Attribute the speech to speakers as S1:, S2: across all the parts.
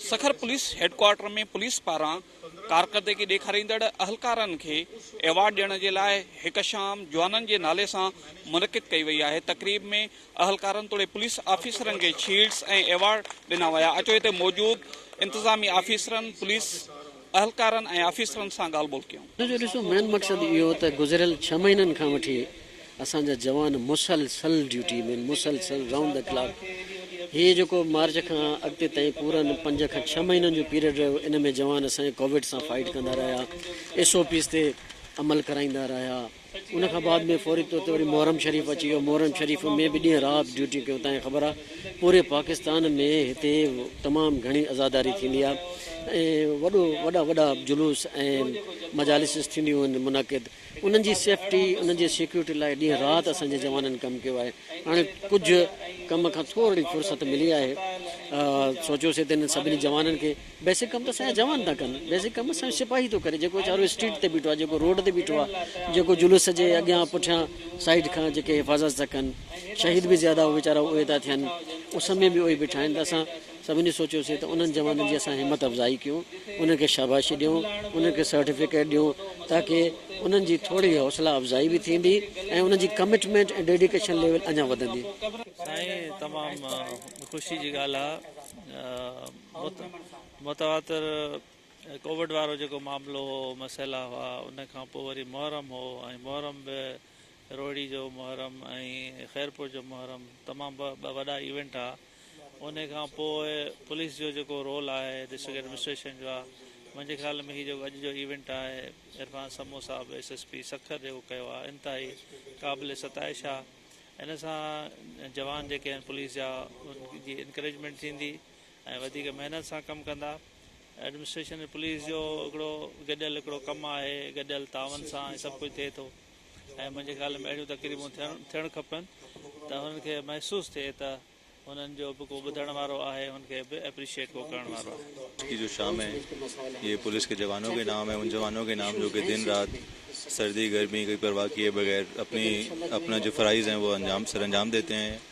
S1: Sukkur police headquarter ۾ police پاران ڪارڪردگي ڏيکاريندڙ اهلڪارن کي ايوارڊ ڏيڻ جي لاء هڪ شام جوانن جي نالي سان منعقد ڪئي وئي آهي تقريب ۾ اهلڪارن توڙي پوليس آفيسرن کي شيلڊز ۽ ايوارڊ ڏنا ويا اچو هتي موجود انتظامي آفيسرن پوليس اهلڪارن ۽ آفيسرن سان ڳالهه ٻولهه ڪيون. ان جو ڏسو مين مقصد اهو
S2: هو ته گذريل ڇهه مهينن کان وٺي اسان جا جوان مسلسل ڊيوٽي ۾ آهن، مسلسل رائونڊ دي ڪلاڪ. هي جيڪو مارچ کان اڳتي تائين پورن پنج کان ڇهه مهينن جو پيريڊ رهيو ان ۾ جوان اسان جا ڪووڊ سان فائيٽ ڪندا رهيا، ايس او پيز تي عمل ڪرائيندا رهيا. ان کان بعد ۾ فوري طور تي وري محرم شريف اچي ويو محرم شريف ۾ به ڏينهن رات ڊيوٽيون ڪيون تان خبر آ پوري پاڪستان ۾ هتي تمام گهڻي عزاداري ٿيندي آ ۽ وڏو وڏا وڏا جلوس ۽ مجالسز ٿينديون آهن منعقد انهن جي سيفٽي انهن جي سيڪيورٽي لاء ڏينهن رات اسان جي جوانن ڪم ڪيو آهي هاڻي ڪجهه ڪم کان ٿورڙي فرصت ملي آهي سوچيوسي ته انهن سڀني جوانن کي بيسڪ ڪم ته اسانجا جوان ٿا ڪن بيسڪ ڪم اسانجو سپاهي ٿو ڪري جيڪو ويچارو اسٽريٽ تي بيٺو آهي جيڪو روڊ تي بيٺو آهي جيڪو جلوس جي اڳيان پٺيان سائيڊ کان جيڪي حفاظت ٿا ڪن شهيد به زياده اهي ويچارا اهي ٿا ٿين اس ۾ به اهي بيٺا آهن ته اسان سڀني سوچيوسي ته انهن جوانن جي اسان همت افزائي ڪيون انهن کي شاباشي ڏيون انهن کي سرٽيفڪيٽ ڏيون تاڪي انهن جي ٿوري حوصلا افزائي به ٿيندي ۽ انهن جي ڪمٽمينٽ ۽ ڊيڊيڪيشن ليول اڃا وڌندي سائين
S3: تمام خوشي جي ڳالهه آهي متواتر ڪووڊ وارو جيڪو معاملو هو مسئلا هئا ان کان پوء وري محرم هو ۽ محرم به روهڙي جو محرم ۽ خيرپور جو محرم تمام ٻه وڏا ايونٽ ها ان کان پوء پوليس جو جيڪو رول آهي ڊسٽرڪٽ ايڊمنسٽريشن جو آهي منهنجي خيال ۾ هي جيڪو اڄ جو ايونٽ آهي عرفان سمو صاحب ايس ايس پي سکر جيڪو ڪيو آهي انتهائي قابل ستائش آهي ان سان جوان جيڪي آهن پوليس جا ان جي انڪريجمينٽ ٿيندي ۽ وڌيڪ محنت سان ڪم ڪندا. ايڊمنسٽريشن ۽ پوليس جو هڪڙو گڏيل هڪڙو ڪم آهي، گڏيل تعاون سان هي سڀ ڪجهه ٿئي ٿو ۽ منهنجي خيال ۾ اهڙيون تقريبون ٿيڻ کپن ته هنن کي محسوس ٿئي ته هنن جو به ڪو ٻڌڻ وارو آهي، هنن کي به اپريشيئيٽ ڪو ڪرڻ وارو آهي. ڪي جو شام
S4: هي يي پوليس ڪي جوانو ڪي نام هي ان جوانو ڪي نام جو ڪي دن رات سردي گرمي ڪي پرواهه ڪيي بغير اپني اپنا جو فرائض هين وو انجام سرانجام ديتي هين.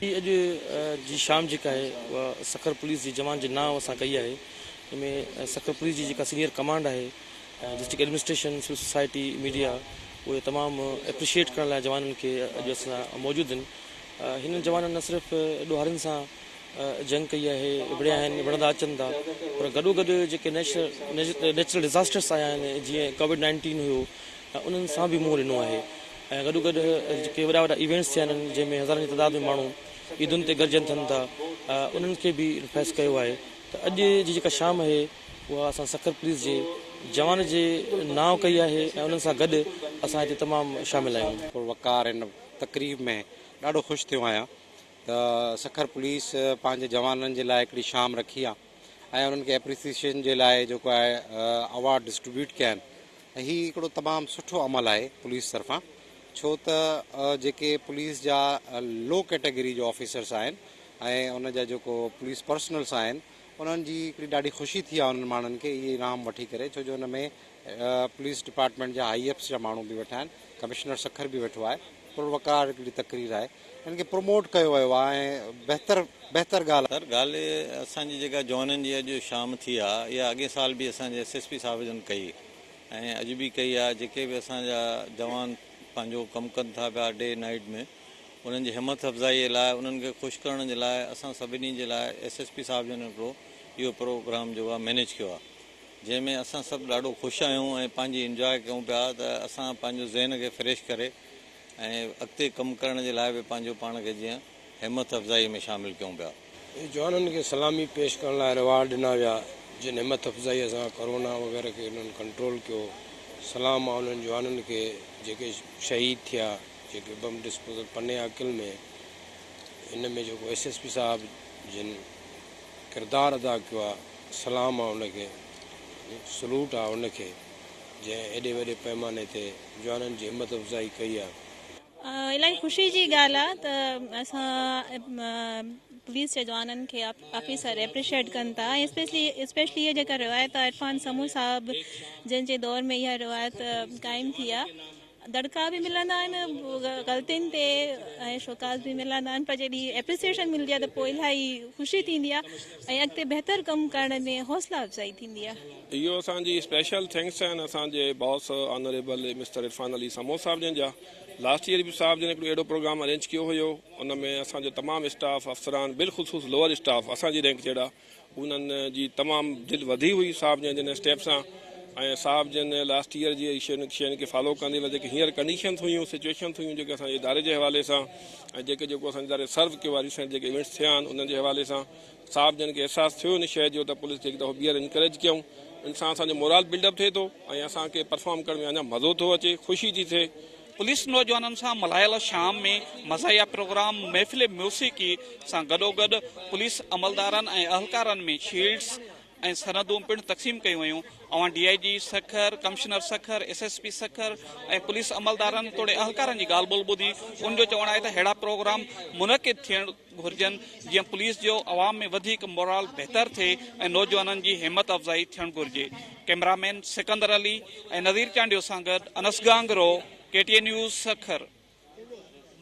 S5: هي اڄ
S6: جي شام جيڪا آهي اها سکر پوليس جي جوان جي نانء سان ڪئي آهي جنهن ۾ سکر پوليس جي جيڪا سينئر ڪمانڊ آهي district administration civil society media اهي تمام ايپريشيئيٽ ڪرڻ لاء جوانن کي اڄ اسان سان موجود آهن هنن جوانن نه صرف ڏوهارين سان جنگ ڪئي آهي وڙهيا آهن وڙهندا اچن ٿا پر گڏو گڏ جيڪي نيچرل نيچرل ڊزاسٽرس آيا آهن جيئن ڪووڊ نائنٽين هيو انهن سان به منهن ڏنو آهي ۽ گڏو گڏ ڪي وڏا وڏا ايونٽس ٿيا آهن جنهن ۾ هزارن جي تعداد ۾ ماڻهو عيدن تي گڏجن ٿن ٿا انهن کي به فيس ڪيو آهي ته اڄ جي جيڪا شام اهي اها اسان سکر پوليس جي جوان جي نانء ڪئي آهي ۽ انهن سان گڏ اسان هتي تمام شامل آهيون. وقار هن
S7: تقريب ۾ ڏاڍو خوش ٿيو آهيان ته سکر پوليس پنهنجي جوانن جي لاء هڪڙي شام رکي آهي. ۽ انهن کي اپريسيشن جي لاء جيڪو آهي اوارڊ ڊسٽريبيوٽ ڪيا آهن ۽ هي هڪڙو تمام سٺو عمل آهي پوليس طرفان ڇو ته جيڪي پوليس جا لو ڪيٽيگري جو آفيسرس آهن ۽ ان جا جيڪو پوليس پرسنلس آهن انهن جي هڪڙي ڏاڍي خوشي ٿي آهي انهن ماڻهن کي اهي انعام وٺي ڪري ڇو جو ان ۾ پوليس ڊپارٽمينٽ جا آء ايف جا ماڻهو به ويٺا آهن ڪمشنر سکر به ويٺو آهي پر وقار هڪڙي تقرير آهي ان کي پروموٽ ڪيو ويو آهي ۽ بهتر بهتر ڳالهه سر ڳالهه
S4: اسان جي جيڪا جوانن جي اڄ شام ٿي آ اها اڳين سال به اسان جي ايس ايس پي صاحب جن ڪئي ۽ اڄ به ڪئي آ جيڪي به اسان جا جوان پنهنجو ڪم ڪن ٿا پيا ڊي نائيٽ ۾ انهن جي همٿ افزائي جي لاء انهن کي خوش ڪرڻ جي لاء اسان سڀني جي لاء ايس ايس پي صاحب جن هڪڙو اهو پروگرام جيڪو آ مينيج ڪيو آ جنهن ۾ اسان سڀ ڏاڍو خوش آهيون ۽ پنهنجي انجواء ڪيون پيا ته اسان پنهنجو ذهن کي فريش ڪري ۽ اڳتي ڪم ڪرڻ جي لاء به پنهنجو پاڻ کي جيئن همٿ افزائي ۾ شامل ڪيون پيا. اهي جوانن کي
S8: سلامي پيش ڪرڻ لاء ريوارڊ ڏنا ويا جن همٿ افزائي سان ڪورونا وغيره کي انهن ڪنٽرول ڪيو. سلام آ انهن جوانن کي جيڪي شهيد ٿيا جيڪي بم ڊسپوزل پني عاقل ۾ ان ۾ جيڪو ايس ايس پي صاحب جن ڪردار ادا ڪيو آ. سلام آ ان کي، سلوٽ آ ان کي، جنهن ايڏي وڏي پئماني تي جوانن جي همت افزائي ڪئي آ. الاهي خوشي جي
S9: ڳالهه آ ته اسان پوليس جي جوانن کي آفيسر اپريشيئيٽ ڪن ٿا ۽ اسپيشلي اها جيڪا روايت آ عرفان سمون صاحب جن جي دور ۾ اها روايت قائم ٿي آ. دڙڪا به ملندا آهن غلطين تي ۽ شوڪاز به ملندا آهن پر جڏهن اپريسيشن ملندي آهي ته پوء الاهي خوشي ٿيندي آهي ۽ اڳتي بهتر ڪم ڪرڻ ۾ حوصلا افزائي ٿيندي آهي. اهو اسان جي اسپيشل
S10: ٿينڪس آهن اسان جي boss honourable mister Irfan Ali Samoon صاحب جن جا لاسٽ ايئر به صاحب جن هڪڙو اهڙو پروگرام ارينج ڪيو هيو ان ۾ اسان جو تمام اسٽاف افسران بالخصوص لوئر اسٽاف اسان جي رينڪ جهڙا انهن جي تمام دل وڌي هئي صاحب جن جن اسٽيپ سان ۽ صاحب جن لاسٽ ايئر جي شين شين کي فالو ڪندي وري جيڪي هينئر ڪنڊيشنس هيون سچويشنس هيون جيڪي اسان جي اداري جي حوالي سان ۽ جيڪي جيڪو اسان جي اداري سرو ڪيو آهي ريسينٽ جيڪي ايونٽس ٿيا آهن انهن جي حوالي سان صاحب جن کي احساس ٿيو ان شيء جو ته پوليس کي هڪ دفعو ٻيهر انڪريج ڪيون ان سان اسان جو مورال بلڊ اپ ٿئي ٿو ۽ اسان کي پرفارم ڪرڻ ۾ اڃا مزو ٿو اچي خوشي ٿي ٿئي پوليس نوجوانن
S1: سان ملهايل شام ۾ مزاحيه پروگرام محفل موسيقي سان گڏوگڏ پوليس عملدارن ۽ اهلڪارن ۾ شيلڊز ۽ سندون پڻ تقسيم ڪيون ويون اوهان D I G Sukkur commissioner Sukkur S S P Sukkur ۽ police عملدارن توڙي اهلڪارن جي ڳالهه ٻولهه ٻڌي ان جو چوڻ آهي ته ههڙا پروگرام منعقد ٿيڻ گهرجن جيئن پوليس جو عوام ۾ وڌيڪ مورال بهتر ٿئي ۽ نوجوانن جي همت افزائي ٿيڻ گهرجي ڪئميرا مين سڪندر علي ۽ نذير چانڊيو سان گڏ Anas Gangro K T A news Sukkur.